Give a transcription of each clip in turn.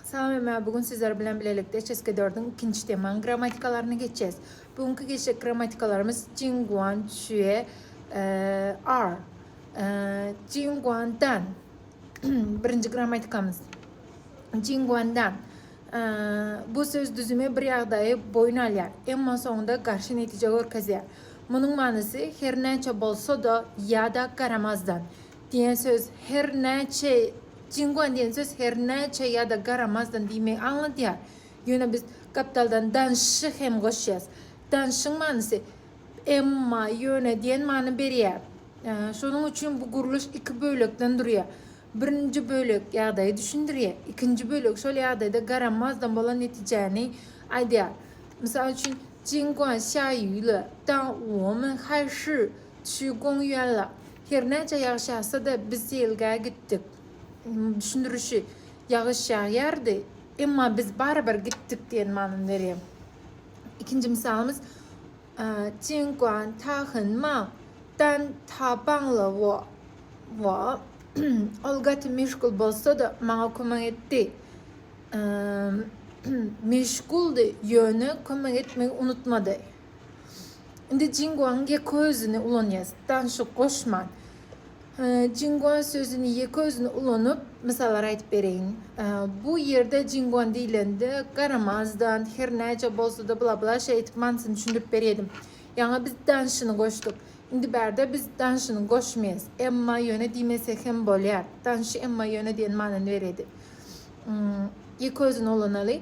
Salamlar, bu gün sizler bilen bilelikde Çeşke dördüň ikinji temanyň grammatikalaryny geçýäs. Bu günki geçjek grammatikalarymyz Jinguan Xue er Jinguan dan. Birinji grammatikamyz. Jinguan dan. Bu söz düzümi bir ýagdaýy boýun alýar, emma soňunda garşy netije görkezýär. Munuň manysy her näçe bolsa-da ýa-da garamazdan, Diýen söz her näçe, Jinguan diýen söz her näçe ýa-da garamazdan diýmegi aňladýar. Ýöne biz gapdaldan danşy hem goşýas. Danşyň manysy emma, ýöne diýen many berýär. Şonuň üçin bu gurluş iki bölekden durýar. Birinji bölek ýagdaýy düşündirýär. Ikinji bölek şol ýagdaýda garamazdan bolan netijäni aýdýar. Mysal üçin, Jinguan xiaoyu le dao wo men hai shi. Şu goňy ýaly, hernäçe ýagyş ýagsa-da, biz seýilgähe gitdik. Düşündirişi, Ýagyş ýagýardy, emma biz barybir gitdik diýen manyny berýär. Ikinji mysalymyz, Jinguan tahyn ma, dan ta bang le wo wo, Ol gaty meşgul bolsa-da, maňa kömek etdi. Meşguldy, ýöne kömek etmegi unutmady. Indi Jinguaň ýeke özüni ulanýas. Danşyk goşman. Jingua sözüni ýeke özüni ulanyp, mysallar aýdyp bereýin. Bu ýerde Jinguan diýlende garamazdan, her näce bolsa-da bla-bla şeý aýdyp manysyny düşündirip berýedim. Ýaňy biz danşyny goşduk. Indi bärde biz danşyny goşmaýas. Emma ýöne diýmese hem bolýar. Danşy emma ýöne diýen manyny berýedi. Ýeke özüni ulanaly.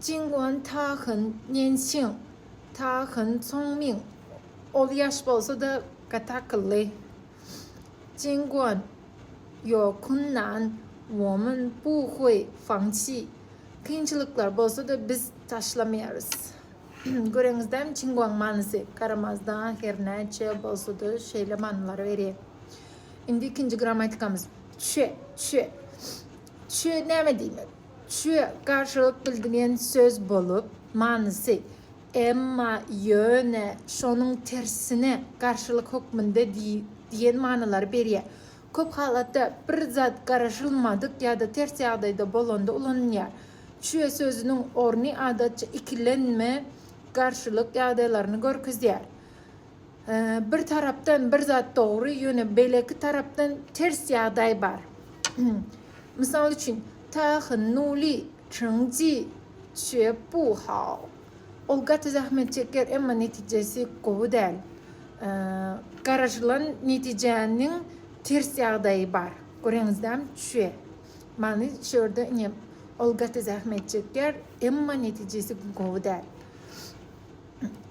Jinguan, Ta Hyn, Nensin, Ta Hyn, Song Ming. Ol ýaş bolsa-da gaty akylly. Jinguan, Ýo, Kun Nan, Wo Min, Bu Hui, Fang Qi. Kynçylyklar bolsa-da biz taşlamaýarys. Göreňizdämi Jinguan manysy garamazdan her näçe bolsa-da şeýle manylar berýär. Indi ikinji grammatikamyz. Çue, Çue. Çue näme diýmek? Çü garşylyk bildigen söz bolup, manysy, emma, ýöne, şonuň tersine, garşylyk hökmünde diýen manylary berýär. Köp halatda bir zat garaşylmadyk ýa-da ters ýagdaýda bolanda ulanylýar. Çü sözüniň orny adatça ikilenme, garşylyk ýagdaýlaryny görkezýär. Bir tarapdan bir zat dogry, ýöne beýleki tarapdan ters ýagdaý bar. Mysal üçin, ta hen nuli, çyn ji, çe bu hao. Ol gaty zähmet çeker, emma netijesi gowy däl. Garaşylan netijäniň ters ýagdaýy bar. Göreňizdämi? Çe. Many şu ýerde ine, ol gaty zähmet çeker, emma netijesi gowy däl.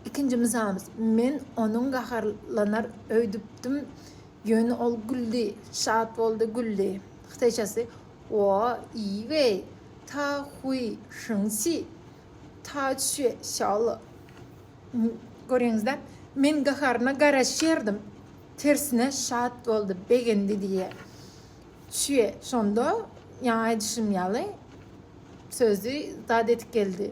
Ikinji mysalymyz, Men onuň gaharlanar öýdüpdim, ýöne ol güldi, şat boldy, güldi. Hytaýçasy, Wo yi wei ta hui sheng xi ta xue xiao le. Görýäňiz-dä, men gaharyna garaşýardym, tersine şat boldy, begendi diýýär. Xue şonda ýaňy aýdyşym ýaly sözi zat edip geldi.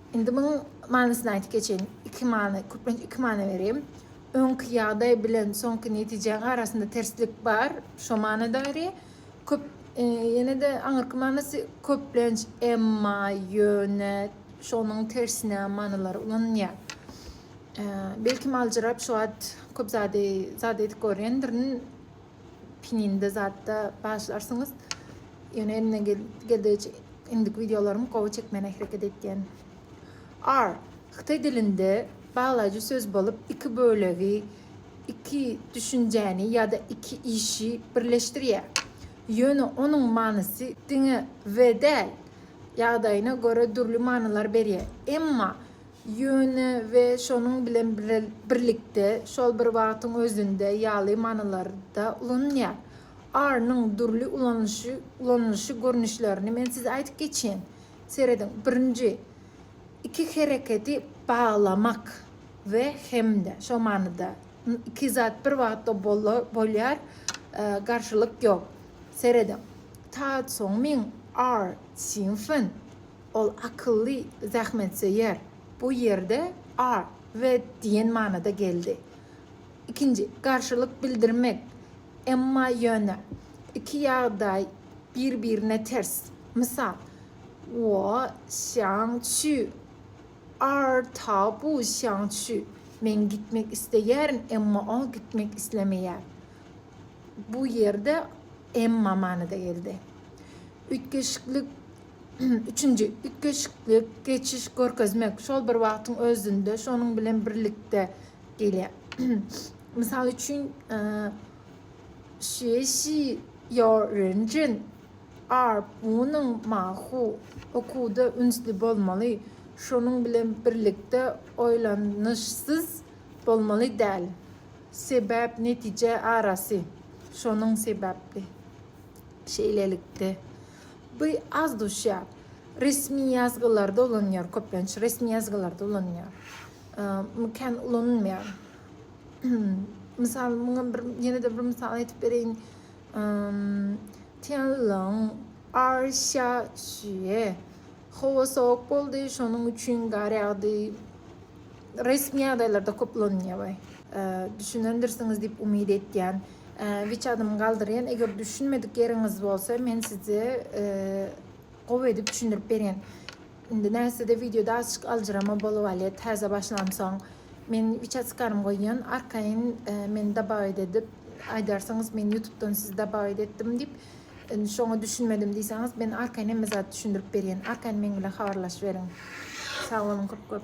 Indi munuň manysyny aýdyp geçeýin. Iki many, köplenç iki many berýän. Öňki ýagdaý bilen soňky netijäň arasynda terslik bar, şo manyda berýär. Köp, ýene-de aňyrky manysy köplenç, emma, ýöne, şonuň tersine manylary ulanylýar. Belki, aljyrap şu wagt köp zady, zat edip görýändirin. Pininde zatda başlarsyňyz. Ýöne eline geldigiçe indiki wideolarymy gowy çekmäne hereket etýän. R. Hytaý dilinde baglaýjy söz bolup iki bölegi, iki düşünjäni ýa-da iki işi birleşdirýär. Ýöne onuň manysy diňe we däl, ýagdaýyna görä dürli manylar berýär. Emma Ýöne we şonuň bilen birlikde, şol bir wagtyň özünde ýaly manylarda ulanylýar. Are-nyň dürli ulanylyşy görnüşlerini men size aýdyp geçýän. Serediň, birinji, iki hereketi baglamak we hem-de, şol manyda, iki zat bir wagtda bolýar, garşylyk ýok. Serediň, Taad Songming, Are, Sing Fen. Ol akylly, zähmetsöýer. Bu ýerde ar, we diýen manyda geldi. Ikinji, garşylyk bildirmek. Emma ýöne, iki ýagdaý bir-birine ters. Mysal, Wo xiang qu, ar ta bu xiang qu, Men gitmek isleýärin, emma ol gitmek islemeýär. Bu ýerde emma manyda geldi. Üýtgeşiklik. Üçünji, üýtgeşikli geçiş görkezmek şol bir wagtyň özünde şonuň bilen birlikde gelýär. Mysal üçin, şeýşi ýor renjin ar bunyň mahu okuwda ünsli bolmaly, şonuň bilen birlikde oýlanyşsyz bolmaly däl. Sebäp netije arasy şonuň sebäpli. Şeýlelikde. Bu az duşýar. Resmi ýazgylarda ulanýar köplenç. Resmi ýazgylarda ulanýar. Muňa kän ulanylmaýar. Mysal, muňa bir ýene-de bir mysal aýdyp bereýin. Tianlong ar şa şüe. Howa sowuk boldy, şonuň üçin gar ýagdy. Resmi ýagdaýlarda köp ulanylýar we düşünendirsiňiz diýip umyt etýän. Wiç adymy galdyrýan, eger düşünmedik ýeriňiz bolsa men size gowy edip düşündirip berýän. Indi näsede wideoda açyk aljyrama bolup alýar täze başlansoň. Men wiç adymy goýýan, arkaýyn meni dabagyt edip aýdarsyňyz men ýutubdan sizi dabagyt etdim diýip şoňa düşünmedim diýseňiz men arkaýyn hemme zady düşündirip berýän. Arkaýyn meň bilen habarlaşyberiň. Sag boluň köp köp.